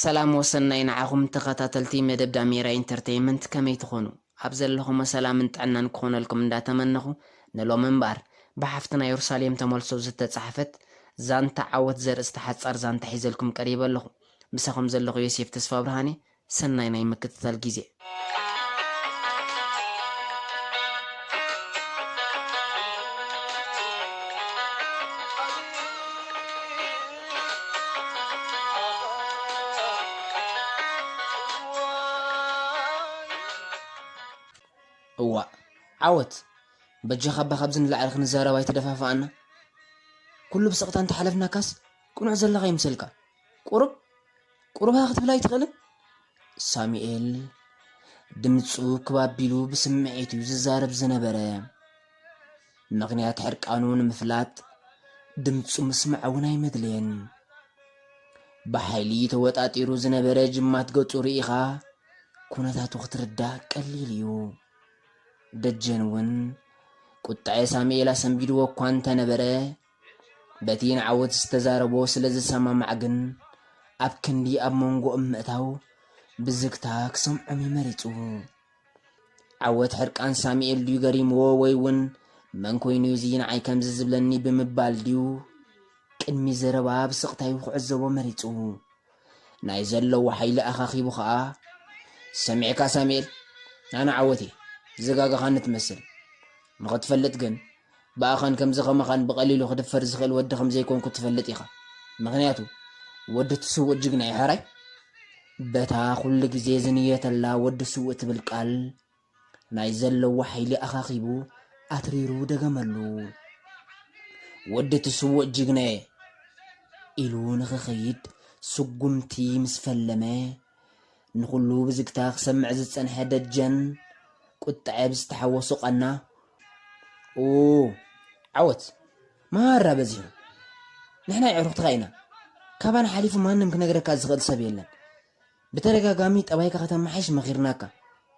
ሰላም ወሰናይ ንዓኹም ተኸታተልቲ መደብ ዳሜራ ኢንተርተይመንት ከመይ ትኾኑ ኣብ ዘለኹሞ ሰላምን ጥዕናን ክኾነልኩም እንዳተመነኹ ንሎሚ እምበኣር ብሓፍትና ዮርሳሌም ተመልሶ ዝተጻሕፈት ዛንታ ዓወት ዘርእስታ ሓጻር ዛንታ ሒዘልኩም ቀሪበ ኣለኹ ምሳኹም ዘለኹ ዮሴፍ ተስፋብርሃንየ ሰናይ ናይ ምክትታል ጊዜ። እዋእ ዓወት በጃኻ እባ ካብዚ ንላዕሊ ክንዛረብ ኣይተደፋፍኣና ኩሉ ብስቕታ እንተሓለፍናካስ ቅኑዕ ዘለኻ ይምሰልካ ቁሩብ ቁሩብኸ ክትብል ኣይትኽእልን? ሳሙኤል ድምጹ ክብ ኣቢሉ ብስምዒት እዩ ዝዛረብ ዝነበረ። ምኽንያት ሕርቃኑ ንምፍላጥ ድምጹ ምስማዕ እውን ኣይመድለየን። ብሓይሊ ተወጣጢሩ ዝነበረ ጅማት ገጹ ርኢኻ ኩነታቱ ክትርዳእ ቀሊል እዩ። ደጀን እውን ቁጣዐ ሳሙኤል ኣሰንቢድዎ እኳ እንተነበረ በቲ ንዓወት ዝተዛረቦ ስለ ዝሰማማዕ ግን፣ ኣብ ክንዲ ኣብ መንጎኦም ምእታው፣ ብዝግታ ክሰምዖም እዩ መሪጹ። ዓወት ሕርቃን ሳሚኤል ድዩ ገሪምዎ ወይ'ውን መን ኮይኑ እዚ ንዓይ ከምዚ ዝብለኒ ብምባል ድዩ፣ ቅድሚ ዘረባ ብስቕታ'ዩ ክዕዘቦ መሪጹ። ናይ ዘለዎ ሓይሊ ኣኻኺቡ ከኣ፣ ሰሚዕካ ሳሚኤል፣ ኣነ ዓወት እየ፣ ዝጋገኻኒ ትመስል፣ ንኽትፈልጥ ግን፣ ብኣኻን ከምዚ ከማኻን ብቐሊሉ ክድፈር ዝኽእል ወዲ ከም ዘይኮንኩ ትፈልጥ ኢኻ። ምኽንያቱ ወዲ እቲ ስውእ ጅግና እዩ ሕራይ። በታ ኩሉ ግዜ ዝንየተላ ወዲ ስውእ ትብል ቃል ናይ ዘለዎ ሓይሊ ኣኻኺቡ ኣትሪሩ ደገመሉ። ወዲ እቲ ስውእ ጅግናየ ኢሉ ንኽኸይድ ስጉምቲ ምስ ፈለመ ንኹሉ ብዝግታ ክሰምዕ ዝጸንሐ ደጀን፣ ቁጠዐ ብዝተሓወሶ ቃና፣ ኡኡ! ዓወት ማራ በዚሑ! ንሕና የዕሩኽትኻ ኢና! ካባና ሓሊፉ ማንም ክነግረካ ዝኽእል ሰብ የለን! ብተደጋጋሚ ጠባይካ ከተማሓይሽ መኺርናካ፣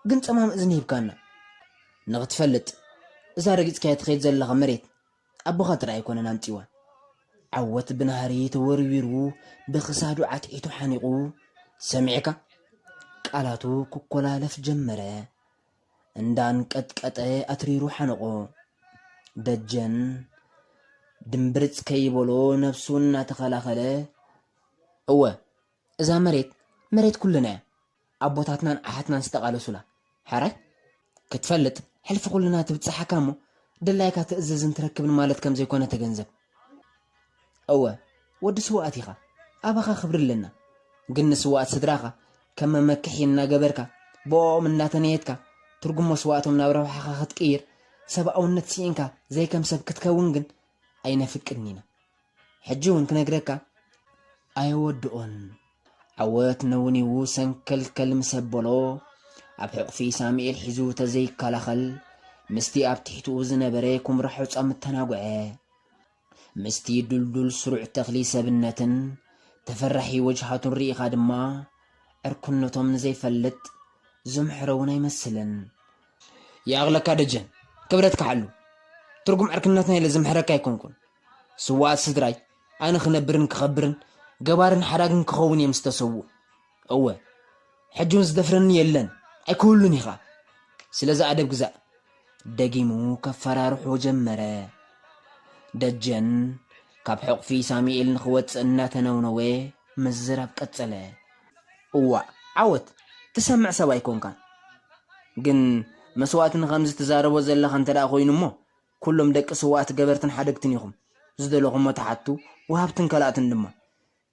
ግን ጸማም እዝኒ ሂብካና! ንኽትፈልጥ፣ እዛ ረጊጽካያ ትኸይድ ዘለኻ መሬት ኣቦኻ ጥራይ ኣይኮነን ኣምጺዋ ዓወት ብናህሪ ተወርዊሩ ብክሳዱ ዓትዒቱ ሓኒቑ ሰሚዕካ ቃላቱ ክኮላለፍ ጀመረ እንዳንቀጥቀጠ ኣትሪሩ ሓነቖ ደጀን ድምብርጽ ከይበሎ ነብሱ እናተኸላኸለ እወ እዛ መሬት መሬት ኩልና እያ ኣቦታትናን ኣሓትናን ዝተቃለሱላ ሕራይ ክትፈልጥ ሕልፊ ኩልና ትብጸሓካ እሞ ድላይካ ትእዝዝን ትረክብን ማለት ከም ዘይኮነ ተገንዘብ እወ ወዲ ስውኣት ኢኻ ኣባኻ ክብሪ ኣለና ግን ንስውኣት ስድራኻ ከም መመክሒ እናገበርካ ብኦኦም እናተነየትካ ትርጉም መስዋእቶም ናብ ረብሓኻ ክትቅይር ሰብኣውነት ስኢንካ ዘይከም ሰብ ክትከውን ግን ኣይነፍቅድን ኢና ሕጂ ውን ክነግረካ ኣየወድኦን ዓወት ነውኒዉ ሰንከልከል ምስ ኣበሎ ኣብ ሕቑፊ ሳሙኤል ሒዙ ተዘይከላኸል ምስቲ ኣብ ትሕትኡ ዝነበረ ኩምራ ሑጻም ተናጉዐ። ምስቲ ዱልዱል ስሩዕ ተኽሊ ሰብነትን ተፈራሒ ወጅሃቱን ርኢኻ ድማ ዕርክነቶም ንዘይፈልጥ ዘምሕረ ውን ኣይመስልን። ይኣኽለካ ደጀን ክብረትካ ሓሉ። ትርጉም ዕርክነትና ኢለ ዝምሕረካ ኣይኮንኩን። ስውኣት ስድራይ ኣነ ክነብርን ክኸብርን ገባርን ሓዳግን ክኸውን እየ ምስ ተሰውኡ። እወ ሕጂ ውን ዝደፍረኒ የለን ኣይክህሉን ኢኻ ስለዚ ኣደብ ግዛእ። ደጊሙ ከፈራርሖ ጀመረ። ደጀን ካብ ሕቑፊ ሳሚኤል ንኽወጽእ እናተነውነወ ምዝራብ ቀጸለ። እዋእ ዓወት ትሰምዕ ሰብ ኣይኮንካን ግን መስዋእቲ ንኸምዚ ትዛረቦ ዘለኻ እንተደኣ ኮይኑ እሞ ኩሉም ደቂ ስውኣት ገበርትን ሓደግትን ኢኹም ዝደለኹሞ ትሓቱ ወሃብትን ከላእትን ድማ።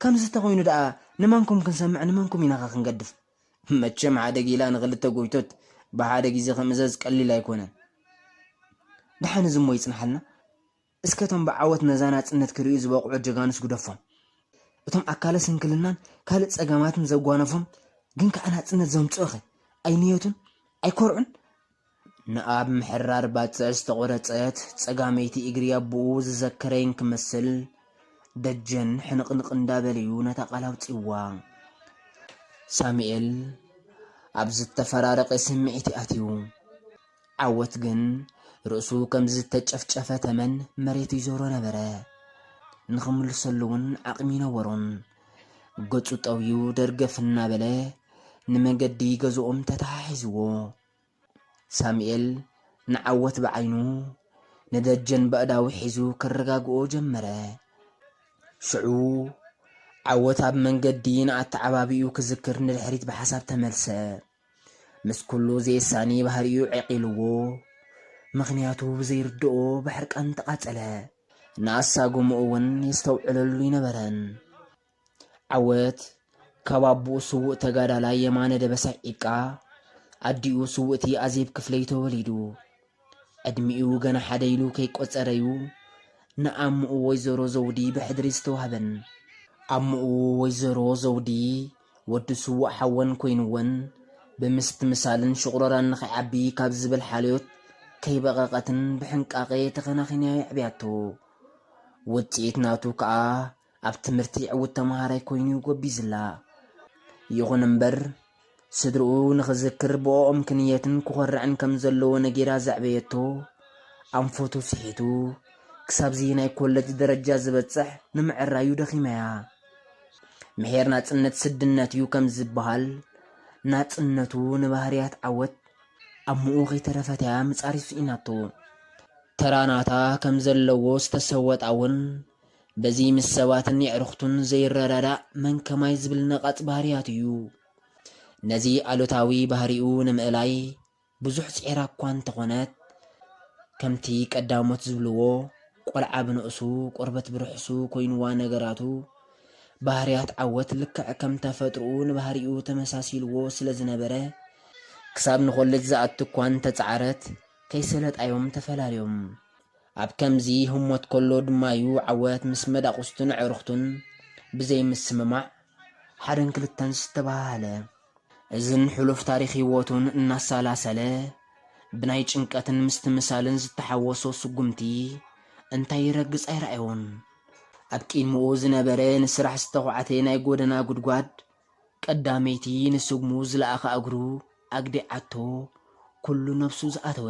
ከምዚ ተኾይኑ ደኣ ንመንኩም ክንሰምዕ ንመንኩም ኢናኸ ክንገድፍ። መቸም ሓደ ጊላ ንኽልተ ጎይቶት ብሓደ ግዜ ክምእዘዝ ቀሊል ኣይኮነን። ደሓን እዚ እሞ ይጽንሓልና። እስከ እቶም ብዓወት ነዛ ናጽነት ክርእዩ ዝበቕዑ ጀጋኑስ ግደፎም። እቶም ኣካለ ስንክልናን ካልእ ጸገማትን ዘጓነፎም ግን ከኣ ናጽነት ዘምጽኡኸ ኣይንየቱን? ኣይኮርዑን? ንኣብ ምሕራር ባጽዕ ዝተቖረጸት ጸጋመይቲ እግሪ ኣቦኡ ዝዘከረ እንክመስል፣ ደጀን ሕንቕንቕ እንዳበለ'ዩ ነታ ቃል ኣውጺኡዋ። ሳሙኤል ኣብ ዝተፈራረቐ ስምዒት'ዩ ኣትዩ። ዓወት ግን ርእሱ ከም ዝተጨፍጨፈ ተመን መሬት ይዞሮ ነበረ። ንኽምልሰሉ'ውን ዓቕሚ ኣይነበሮን። ገጹ ጠውዩ ደርገፍ እናበለ ንመገዲ ገዝኦም ተተሓሒዝዎ። ሳሙኤል ንዓወት ብዓይኑ ንደጀን በእዳዉ ሒዙ ከረጋግኦ ጀመረ። ሽዑ ዓወት ኣብ መንገዲ ንኣተዓባብይኡ ክዝክር ንድሕሪት ብሓሳብ ተመልሰ። ምስ ኩሉ ዘየሳኒ ባህሪኡ ዔቂሉዎ ምኽንያቱ ብዘይርድኦ ብሕርቃን ተቓጸለ። ንኣሳጉምኡ'ውን የስተውዕለሉ ኣይነበረን። ዓወት ካብ ኣቡኡ ስዉእ ተጋዳላይ የማነ ደበሳይ ዒቃ፣ ኣዲኡ ስውእቲ ኣዜብ ክፍለዩ ተወሊዱ። ዕድሚኡ ገና ሓደ ኢሉ ከይቆጸረ'ዩ ንኣሙኡ ወይዘሮ ዘውዲ ብሕድሪ ዝተዋህበን። ኣሙኡ ወይዘሮ ዘውዲ፣ ወዲ ስዉእ ሓወን ኮይኑወን፣ ብምስትምሳልን ሽቑረራን ንኸይዓቢ ካብ ዝብል ሓልዮት ከይበቐቐትን ብሕንቃቐ ተኸናኺና የዕብያቶ። ውጽኢት ናቱ ከኣ ኣብ ትምህርቲ ዕዉት ተመሃራይ ኮይኑ'ዩ ጎቢዝላ። ይኹን እምበር፣ ስድርኡ ንኽዝክር ብኦኦም ክንየትን ክኾርዕን ከም ዘለዎ ነጊራ ዘዕበየቶ ኣንፈቱ ስሒቱ ክሳብ'ዚ ናይ ኮለጅ ደረጃ ዝበጽሕ ንምዕራዩ ደኺማ'ያ። ምሒር ናጽነት ስድነት'ዩ ከም ዝበሃል፣ ናጽነቱ ንባህርያት ዓወት ኣብ ምኡ ከይተረፈት'ያ ምጻር ስኢናቶ። ተራ ናታ ከም ዘለዎ ዝተሰወጣ'ውን በዚ ምስ ሰባትን የዕሩኽቱን ዘይረዳዳእ መን ከማይ ዝብል ነቓጽ ባህርያቱ እዩ። ነዚ ኣሉታዊ ባህሪኡ ንምእላይ ብዙሕ ጽዒራ እኳ እንተኾነት፣ ከምቲ ቀዳሞት ዝብልዎ ቆልዓ ብንኡሱ ቆርበት ብርሕሱ ኮይኑዋ ነገራቱ፣ ባህርያት ዓወት ልክዕ ከም ተፈጥሮኡ ንባህሪኡ ተመሳሲልዎ ስለ ዝነበረ፣ ክሳብ ንኮለጅ ዝኣቱ እኳ እንተጸዓረት ከይሰለጣዮም ተፈላልዮም። ኣብ ከምዚ ህሞት ከሎ ድማ'ዩ ዓወት ምስ መዳቑስቱን ኣዕሩኽቱን ብዘይ ምስምማዕ፣ ሓደን ክልተን ዝተባሃሃለ። እዝን ሕሉፍ ታሪኽ ህይወቱን እናሳላሰለ፣ ብናይ ጭንቀትን ምስትምሳልን ዝተሓወሶ ስጉምቲ እንታይ ይረግጽ ኣይረኣዮን። ኣብ ቂድምኡ ዝነበረ ንስራሕ ዝተዃዕተ ናይ ጎደና ጉድጓድ፣ ቀዳመይቲ ንስጉሙ ዝለኣኻ እግሩ ኣግዲዓቶ ኩሉ ነብሱ ዝኣተወ።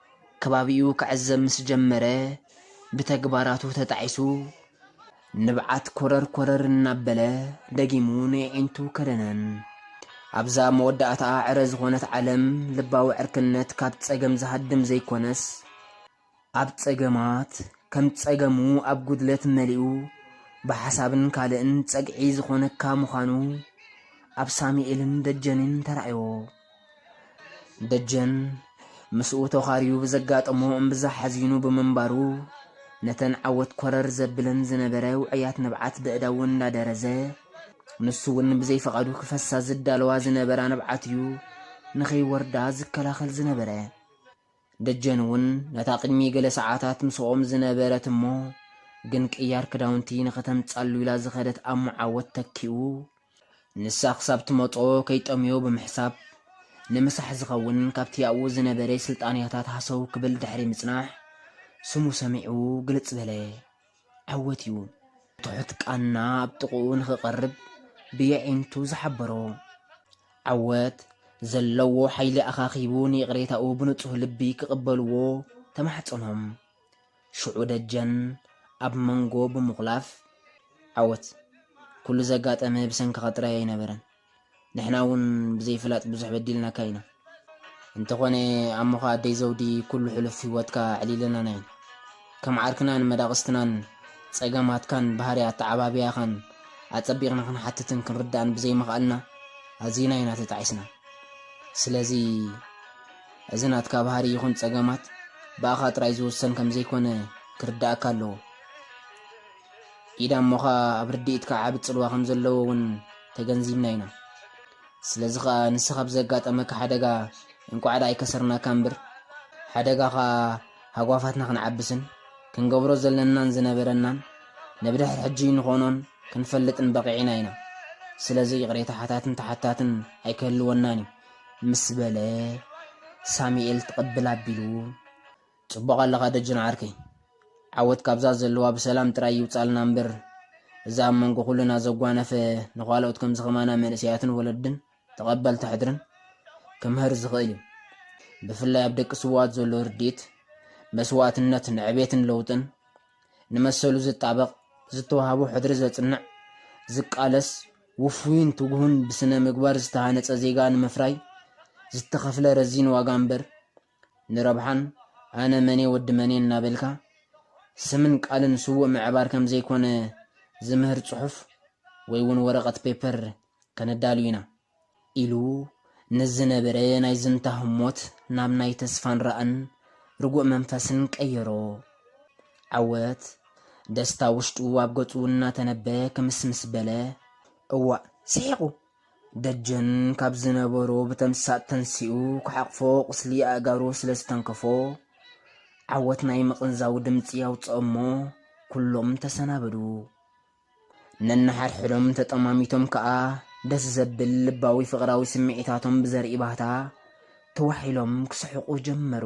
ከባቢኡ ክዕዘብ ምስ ጀመረ ብተግባራቱ ተጣዒሱ ንብዓት ኮረር ኮረር እናበለ ደጊሙ ንየዒንቱ ከደነን። ኣብዛ መወዳእታኣ ዕረ ዝኾነት ዓለም ልባዊ ዕርክነት ካብ ጸገም ዝሃድም ዘይኮነስ ኣብ ጸገማት ከም ጸገሙ ኣብ ጉድለት መሊኡ ብሓሳብን ካልእን ጸግዒ ዝኾነካ ምዃኑ ኣብ ሳሙኤልን ደጀንን ተራእዮ። ደጀን ምስኡ ተዃርዩ ብዘጋጠሞ እምብዛ ሓዚኑ ብምንባሩ ነተን ዓወት ኮረር ዘብለን ዝነበረ ውዕያት ንብዓት በእዳው እንዳደረዘ ንሱ እውን ብዘይፈቓዱ ክፈሳ ዝዳለዋ ዝነበራ ንብዓት እዩ ንኸይወርዳ ዝከላኸል ዝነበረ። ደጀን እውን ነታ ቅድሚ ገለ ሰዓታት ምስኦም ዝነበረት እሞ ግን ቅያር ክዳውንቲ ንኸተምጻሉ ኢላ ዝኸደት ኣብ ሙዓወት ተኪኡ። ንሳ ክሳብ ትመጾ ከይጠምዮ ብምሕሳብ፣ ንምሳሕ ዝኸውን ካብቲ ኣብኡ ዝነበረ ስልጣንያታት ሃሰው ክብል ድሕሪ ምጽናሕ፣ ስሙ ሰሚዑ ግልጽ በለ። ዓወት እዩ። ትሑት ቃና ኣብ ጥቕኡ ንኽቐርብ ብየዒንቱ ዝሓበሮ ዓወት፣ ዘለዎ ሓይሊ ኣኻኺቡ ንይቕሬታኡ ብንጹህ ልቢ ክቕበልዎ ተማሕጸኖም። ሽዑ ደጀን ኣብ መንጎ ብምኹላፍ፣ ዓወት፣ ኩሉ ዘጋጠመ ብሰንክኻ ጥራይ ኣይነበረን። ንሕና እውን ብዘይፍላጥ ብዙሕ በዲልናካ ኢና። እንተኾነ ኣሞኻ ኣደይ ዘውዲ ኩሉ ሕሉፍ ህይወትካ ኣዕሊለናና ኢና። ከም ዓርክናን መዳቕስትናን ጸገማትካን ባህሪ ኣተዓባብያኻን ኣጸቢቕና ክንሓትትን ክንርዳእን ብዘይምኽኣልና ኣዚና ኢና ተጣዒስና። ስለዚ እዚ ናትካ ባህሪ ይኹን ጸገማት ብኣኻ ጥራይ ዝውሰን ከምዘይኮነ ክርደኣካ ኣለዎ። ኢዳ እሞ ኸኣ ኣብ ርድኢትካ ዓቢ ጽልዋ ከም ዘለዎ እውን ተገንዚብና ኢና። ስለዚ ኸኣ ንስኻ ብዘጋጠመካ ሓደጋ እንቋዕ ደኣ ኣይከሰርናካ እምብር ሓደጋ ኸኣ ሃጓፋትና ክንዓብስን ክንገብሮ ዘለናን ዝነበረናን ንብድሕር ሕጂ ንኾኖን ክንፈልጥን በቒዕና ኢና። ስለዚ ይቕሬታ ሓታትን ተሓታትን ኣይክህልወናን እዩ። ምስ በለ ሳሚኤል ትቕብል ኣቢሉ። ጽቡቕ ኣለኻ ደጀን ዓርከይ ዓወት ካብዛ ዘለዋ ብሰላም ጥራይ ይውጻልና እምበር እዚ ኣብ መንጎ ኩልና ዘጓነፈ ንኻልኦት ከምዚ ከማና መንእሰያትን ወለድን ተቐበልቲ ሕድርን ክምህር ዝኽእል እዩ ብፍላይ ኣብ ደቂ ስውኣት ዘሎ ርድኢት መስዋእትነት ንዕቤትን ለውጥን ንመሰሉ ዝጣበቕ ዝተዋህቦ ሕድሪ ዘጽንዕ ዝቃለስ ውፉይን ትጉሁን ብስነ ምግባር ዝተሃነጸ ዜጋ ንምፍራይ ዝተኸፍለ ረዚን ዋጋ እምበር ንረብሓን ኣነ መንየ ወዲ መንየ እናበልካ ስምን ቃልን ስዉእ ምዕባር ከም ዘይኮነ ዝምህር ጽሑፍ ወይ ውን ወረቐት ፔፐር ከነዳሉ ኢና። ኢሉ ንዝነበረ ናይ ዝንታ ህሞት ናብ ናይ ተስፋን ራእን ርጉእ መንፈስን ቀየሮ። ዓወት ደስታ ውሽጡ ኣብ ገጹ እናተነበ ክምስምስ በለ። እዋእ ስሒቑ! ደጀን ካብ ዝነበሮ ብተምሳጥ ተንሲኡ ክሓቕፎ ቁስሊ ኣእጋሩ ስለ ዝተንከፎ ዓወት ናይ ምቕንዛው ድምፂ ኣውፅኦሞ ኩሎም ተሰናበዱ። ነንሓድሕዶም ተጠማሚቶም ከዓ ደስ ዘብል ልባዊ ፍቕራዊ ስምዒታቶም ብዘርኢ ባህታ ተዋሒሎም ክስሕቑ ጀመሩ።